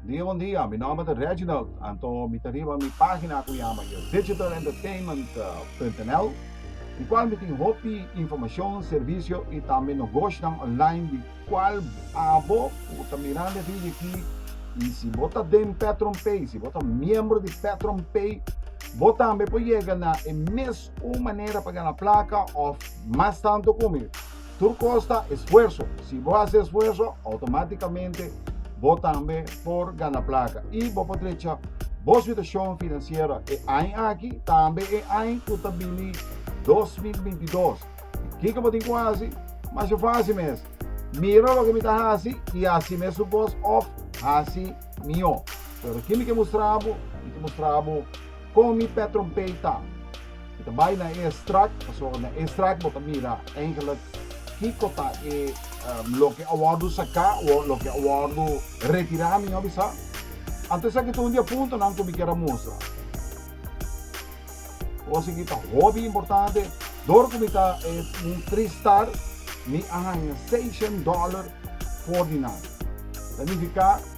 Bon dia bon dia mi nomber ta Reginald anto mi ta riba mi pagina cu yama yo digital entertainment punto nl di cual mi tin hopi informacion servicio y tambe nogoshinan online di cual abo cu ta mirando e video aki y si bo ta den petron pay si bo ta miembro di petron pay bo tambe por yega na e mes Un manera pa gana plaka of mas tantu komo e. Tur kos ta esfuerso. Si bo hasi esfuerso, outomatikamente bo tambe por gana plaka i bo por trecha bo situashon finansiero e aña aki, tambe e aña ku ta bini 2022. Kiko bo tin ku hasi? Masha fásil mes, mira loke mi ta hasi i hasi mes su kos òf hasi mihó. Pero kimi ke mustra bo? Mi ke mustra bo Con mi p'e trompeta. Mi ta bay na e straat, pasobra na e straat bo ta mira eigenlijk kico ta e loke a wordo saca o loke a wordo retira, mi no a bisa. Anto esaki ta un di e puntonan cu mi kier a mustra. Cos aki ta hopi importante, dor cu mi ta e un tristar, mi a hanja seishen dollar for di nan. Ta nifica.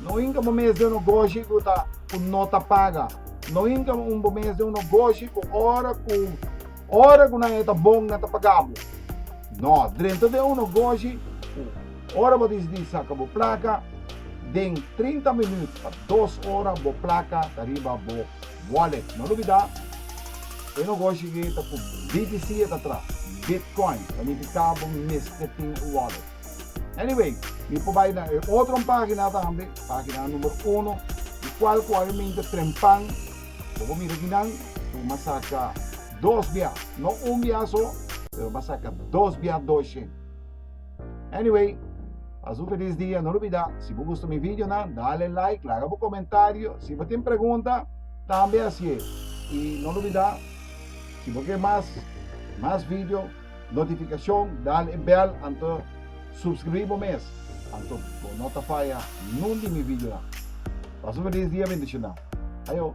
No inga bo mes den un ogoshi ku ta ku no ta paga. No inga bo mes den un ogoshi ku ora ku ora ku nan e ta bon nan ta paga bo. No, drenta den un ogoshi ku ora bo disidí saka bo plaka, den trinta minüt pa dos ora bo plaka ta riba bo wallet. No lubidá, e ogoshi ke ta ku BTC e ta tras, Bitcoin, ta nifiká bo mester tin un wallet. Anyway, mi por bai na e otro pagina tambe, pagina numero uno, di cual cu obviamente Prempang, bo por mira aki nan, cu bo a saca dos bia, no un bia so, pero bo a saca dos bia doce. Anyway, pas un feliz dia, no olbida, si bo gusta mi videonan, dale like, laga bo comentario, si bo tin pregunta, tambe haci'e, y no olbida, si bo ke mas, mas video. Notificacion, dal e bel anto subscribi bo mes anto bo no ta faya nun di mi videonan. Pasa un feliz dia bendicional. Ayo.